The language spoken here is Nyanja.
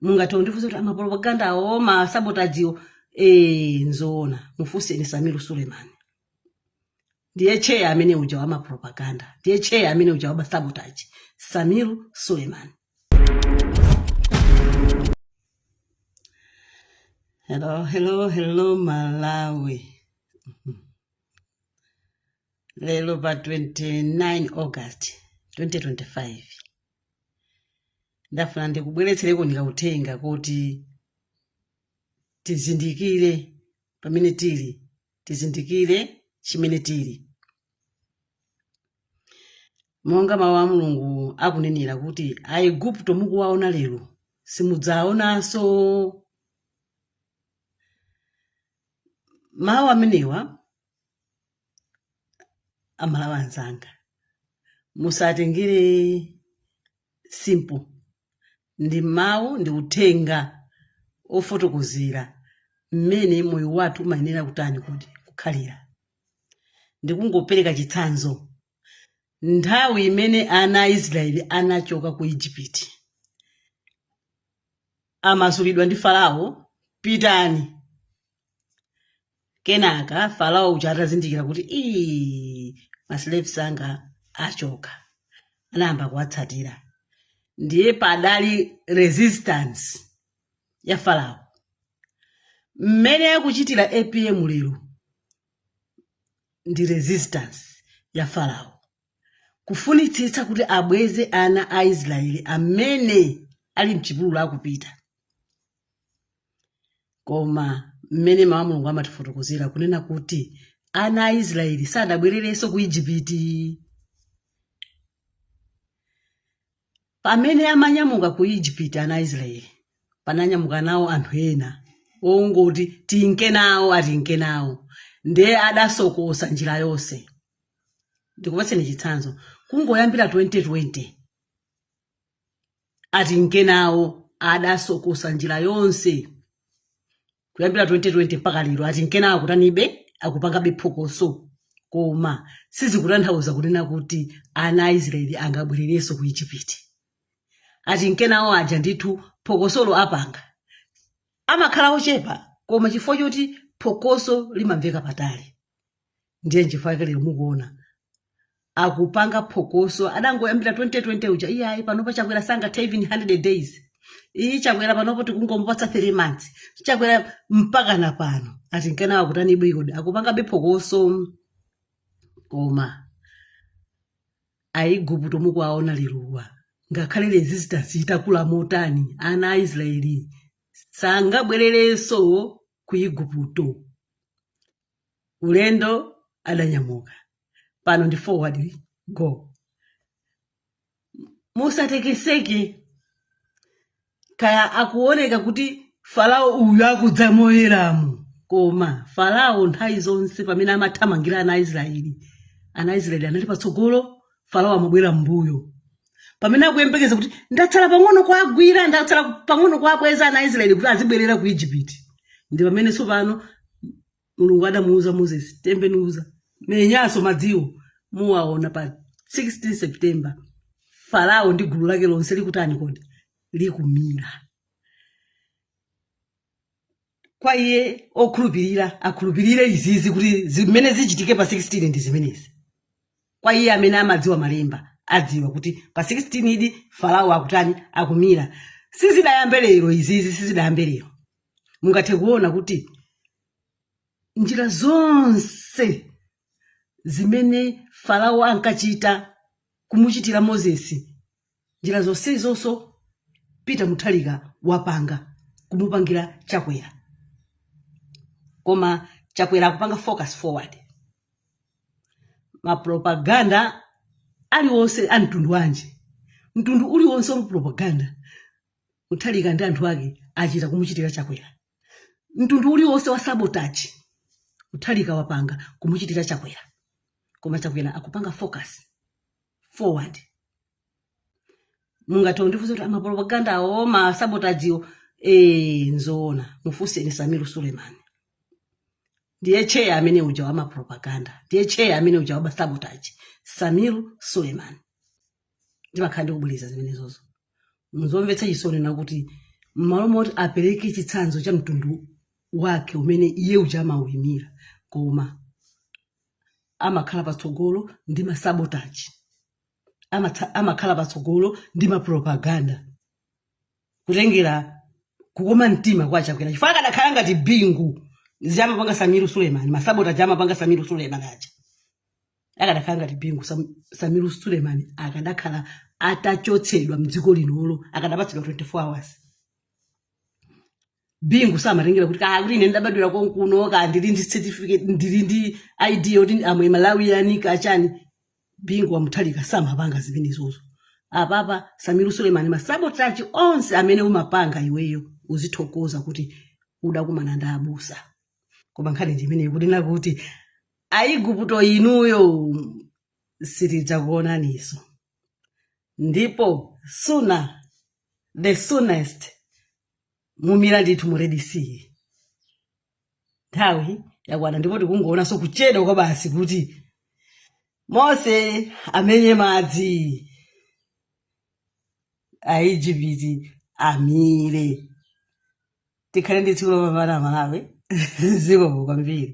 mungathe kundifunsa kuti amapropaganda awo masabotajiwo e, nzoona mufunseni Sameer Suleman ndiye cheya amene uja wa mapropaganda ndiye cheya amene uja wa masabotaji Sameer Suleman Hello, hello, hello, Malawi. Lero pa 29 August 2025. ndafuna ndikubweretsereko ndi kauthenga kuti tizindikire pamene tili tizindikire chimene tili monga mawu a mulungu akunenera kuti aigupto mukuwaona lero simudzaonanso mawu amenewa aMalawi anzanga musatengere simple ndi mawu ndi uthenga ofotokozera mmene moyo wathu umayenera kutani kuti kukhalira ndikungopereka chitsanzo nthawi imene ana a Israeli anachoka ku Egypt amasulidwa ndi Farao pitani kenaka Farao uja atazindikira kuti ii maslaves anga achoka anayamba kuwatsatira ndiye padali resistance ya Farao mmene akuchitira APM lero ndi resistance ya farao kufunitsitsa kuti abweze ana a israeli amene ali mchipululu akupita koma mmene mawu a mulungu amatifotokozera kunena kuti ana a israeli sadabwererenso ku ijipiti Pamene amanyamuka ku Egypt ana a Israyeli, pananyamuka nawo anthu ena ongoti tinke nawo atinke nawo nde adasokosa njira yonse. Ndikupatseni chitsanzo, kungoyambira 2020 atinke nawo adasokosa njira yonse. kuyambira 2020 mpaka lero atinke nawo akutanibe akupangabe phokoso koma sizikutanthauza kunena kuti ana a israeli angabwererenso ku ijipiti atinke nawo aja ndithu phokosolo apanga amakhala ochepa koma chifukwa choti phokoso limamveka patali ndiye chifukwa lero mukuona akupanga phokoso adangoyambira 2020 uja iyayi panopa chakwera sangathe even 100 days iyi chakwera panopo tikungomupatsa 3 months chakwera mpaka na pano ati nkanawo akutanibe kodi akupangabe phokoso koma aiguputo mukuwaona lerowa ngakhale resistance itakula motani ana aisraeli sangabwererenso ku iguputo ulendo adanyamuka pano ndi forward go musatekeseke kaya akuoneka kuti farao uyu akudza moyeramu koma farao nthawi zonse pamene amathamangira ana aisraeli ana aisraeli anali patsogolo farao amabwera m'mbuyo pamene akuyembekeza kuti ndatsala pang'ono kuagwira ndatsala pang'ono kuabweza ana aisraeli kuti azibwerera ku egypt ndi pamene tsopano mulungu adamuuza moses tembenuza menyanso madziwo muwaona pa 16 september farao ndi gulu lake lonse likutani kodi likumira kwa iye okhulupirira akhulupirire izizi kuti zimene zichitike pa 16 ndi zimenezi kwa iye amene amadziwa malemba adziwa kuti pa 16 idi farao akutani akumira sizidayambe lero izizi sizidayambe lero mungathe kuona kuti njira zonse zimene farao ankachita kumuchitira mozesi njira zonsezonso peter muthalika wapanga kumupangira chakwera koma chakwera akupanga focus forward mapropaganda aliwonse a mtundu wanji mtundu uliwonse wa propaganda muthalika ndi anthu ake achita kumuchitira chakwera mtundu uliwonse wa sabotage muthalika wapanga kumuchitira chakwera koma chakwera akupanga focus forward mungatondifunsa kuti mapropagandawo masabotajiwo e, nzoona mufunseni samiru sulemani ndiye cheya amene uja wamapropaganda ndiye cheya amene uja wamasabotaji samiru sulemani ndimakhala ndikubwereza zimenezozo zomvetsa chisoni nzakuti mmalo moti apereke chitsanzo cha mtundu wake umene iye uja amauyimira koma amakhala patsogolo ndi masabotage amakhala patsogolo ndi mapropaganda kutengera kukoma mtima kwa chakwera chifukwa akadakhala ngati bingu zimene amapanga samiru sulemani masabotage amapanga samiru sulemani aja akadakhala ngati bingu samiru sulemani akadakhala atachotsedwa mdziko linolo akadapatsidwa 24 hours bingu samatengera kuti kaa kuti ine ndabadwira konkuno kaa ndili ndi certificate ndili ndi id yoti i'm a malawian kaa chani bingu wamuthalika samapanga zimenezozo apapa samiru sulemani masabotage onse amene umapanga iweyo uzithokoza kuti udakumana ndi abusa koma nkhani ndi imeneyo kunena kuti aiguputo inuyo sitidzakuonaniso ndipo suna the soonest mumira ndithu mu red sea nthawi yakwana ndipo tikungoonanso kuchedwa kwa basi kuti mose amenye madzi aijipiti amire tikhale ndi tsiku lopambana amalawi zikomo kwambiri